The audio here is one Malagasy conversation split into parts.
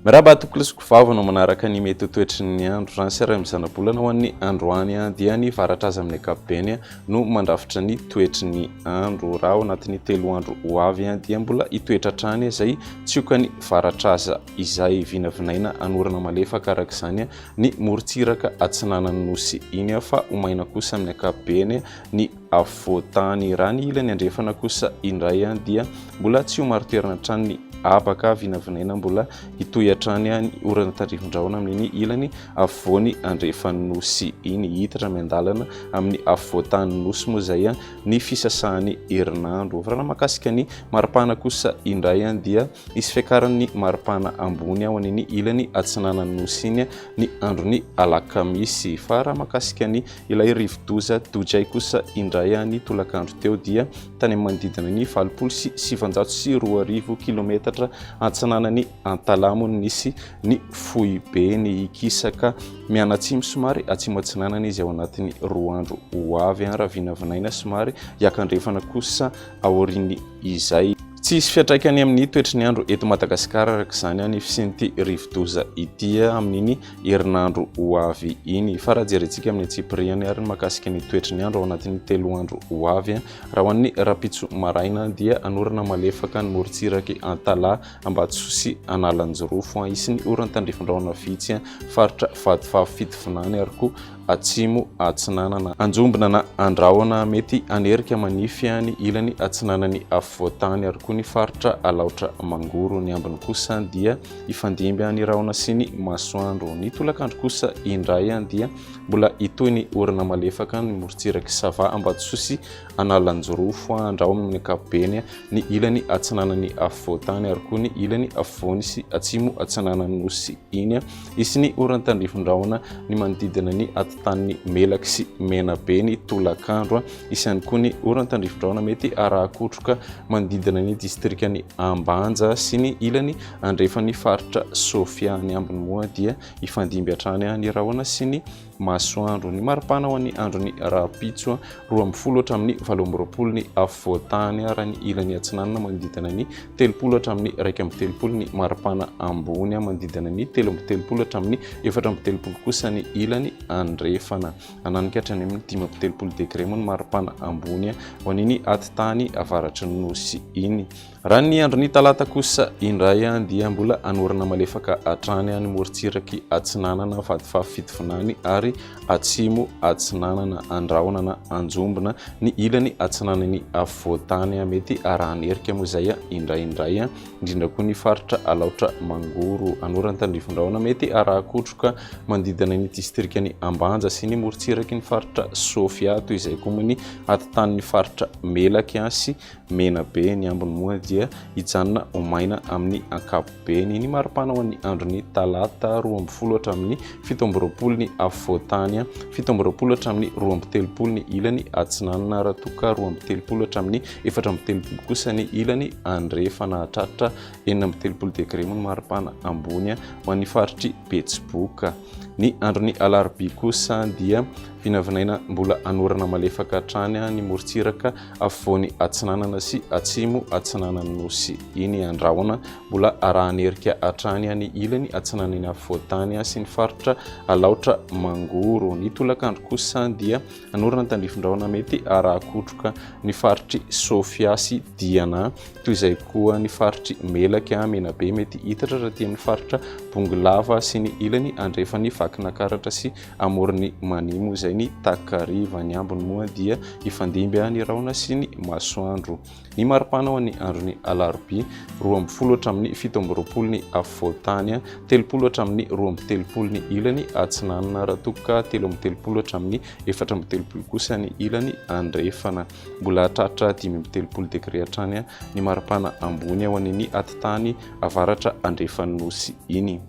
Miraba atoko lisoko vava no manaraka ny mety ho toetry ny andro raha ny seray amin'ny zanabolana ho an'ny androany dia ny varatra azy amin'ny ankapobeny no mandrafitra ny toetry ny andro raha ao anatin'ny telo andro ho avy dia mbola hitoetra hatrany izay tsioka ny varatra aza izay vinavinaina anorana malefaka araka izany ny morontsiraka atsinanan'ny nosy iny fa ho maina kosa amin'ny ankapobeny ny afovoan-tany, raha ny ilany andrefana kosa indray dia mbola tsy ho marin-toerana hatrany ny habaka vinavinaina mbola hitohy hatrany ny orana tandrifindraona amin'iny ilany afovoany andrefan'ny nosy iny. Hihitatra miandalana amin'ny afovoan-tanin'ny nosy moa izay ny fisasahan'ny herinandro. Varirana mahakasika ny maripana kosa indray dia. Hisy fiakaran'ny maripana ambony ao an'ny ilany atsinanan'ny Nosy iny ny andron'ny alakamisy. Fa raha mahakasika ny ilay rivodoza Dojay kosa indray ny tolakandro teo dia tany amin'ny manodidina ny valopolo sy sivinjato sy roa arivo kilometatra atsinanan'i Antalamo no nisy ny foibeny. Hikisaka mianatsimo somary atsimo-atsinanana izy ao anatin'ny roa andro ho avy raha vinavinaina somary hiakandrefana kosa aorian'izay. Tsy hisy fiantraikany amin'ny toetry ny andro eto Madagasikara araka izany ny fisian'ity rivodoza ity amin'iny herinandro ho avy iny. Fa raha jerintsika amin'ny antsipiriany ary ny makasika ny toetry ny andro ao anatin'ny telo andro ho avy, raha ho an'ny rapitso maraina dia hanorana malefaka ny morontsirak'i Antalaha, Ambatosoa sy Analanjirofo. Hisy ny oran-tandrifindraona vitsy faritra Vatovavy Fitovinany ary koa Atsimo Atsinanana. Anjombona na Andrahona, mety hanerika manify ny ilany atsinanan'ny afovoan-tany ary koa ny faritra Alaotra Mangoro. Ny ambiny kosa dia hifandimby ny rahona sy ny masoandro. Ny tolakandro kosa indray dia mbola hitohy ny orana malefaka ny morontsirak'i Sava, Ambatosoa sy Analanjirofo. Andrahona amin'ny ankapobeny ny ilany atsinanan'ny afovoan-tany ary koa ny ilany afovoany sy atsimo atsinanan'ny Nosy iny. Hisy ny oran-tandrifindrahona ny manodidina ny atotanin'i Melaky sy Menabe ny tolakandro. Hisy ihany koa ny oran-tandrifindrahona mety arahakotroka manodidina ny distrikan'i Ambanja sy ny ilany andrefan'ny faritra Sofia. Ny ambiny moa dia hifandimby hatrany ny rahona sy ny masoandro. Ny maripana ho an'ny andron'ny rahampitso roa ambin'ny folo hatramin'ny valo amby roapolo ny afovoan-tany ary any ilany atsinanana manodidina ny telopolo hatramin'ny iraika amby telopolo ny maripana ambony manodidina ny telo amby telopolo hatramin'ny efatra amby telopolo kosa ny ilany andrefana. Hananika hatrany amin'ny dimy amby telopolo degre moa ny maripana ambony ho an'iny atitany avaratry ny nosy iny. Raha ny andron'ny talata kosa indray dia mbola hanorina malefaka hatrany any morontsiraky atsinanana Vatovavy Fitovinany ary atsimo atsinanana Andrahona na Anjombona ny ilany atsinanan'ny afovoan-tany. Mety harahan'ny erika moa izay indraindray, indrindra koa ny faritra Alaotra Mangoro, Anora-Antanrivo-Andrahona. Mety haraha kotroka manodidina ny distrikan'i Ambanja sy ny morontsiraky ny faritra Sofia, toy izay koa moa ny atintanin'ny faritra Melaky sy mena be ny ambiny moa dia hijanona ho maina amin'ny ankapobeny ny maripana ho an'ny andron'ny talata roa ambin'ny folo hatramin'ny fito amby roapolo ny afovoantany, fito amby roapolo hatramin'ny roa amby telopolo ny ilany atsinanana raha toa ka roa amby telopolo hatramin'ny efatra amby telopolo kosa ny ilany andrefana. Hahatratra enina amby telopolo degre moa ny maripana ambony ho an'ny faritr'i Betsiboka. Ny andron'ny alarobia kosa dia vinavinaina mbola hanorana malefaka hatrany ny morontsiraka afovoany atsinanana sy atsimo atsinanan'ny Nosy iny Andrahona, mbola arahan'erika hatrany any ilany atsinanan'ny afovoan-tany sy ny faritra Alaotra Mangoro. Ny tolakandro kosa dia hanorina ny tandrifin-drahona mety haraha-kotroka ny faritr'i Sofia sy Diana, toy izay koa ny faritr'i Melaky, Menabe, mety hitatra raha tia amin'ny faritra Bongolava sy ny ilany andrefan'i Vakinakaratra sy Amoron'i Mania moa izay ny takariva, ny ambiny moa dia hifandimby ny rahona sy ny masoandro. Ny maripana ho an'ny andron'ny alarobia, roa amby folo hatramin'ny fito amby roapolo ny afovoan-tany, telopolo hatramin'ny roa amby telopolo ny ilany atsinanana, raha toa ka telo amby telopolo hatramin'ny efatra amby telopolo kosa ny ilany andrefana. Mbola hahatratra dimy amby telopolo degre hatrany ny maripana ambony ho an'iny atitany avaratra andrefan'ny Nosy iny.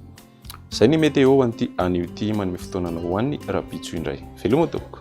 Izay ny météo an'ity anio ity manome fotoanana ho an'ny rahampitso indray. Veloma tompoko.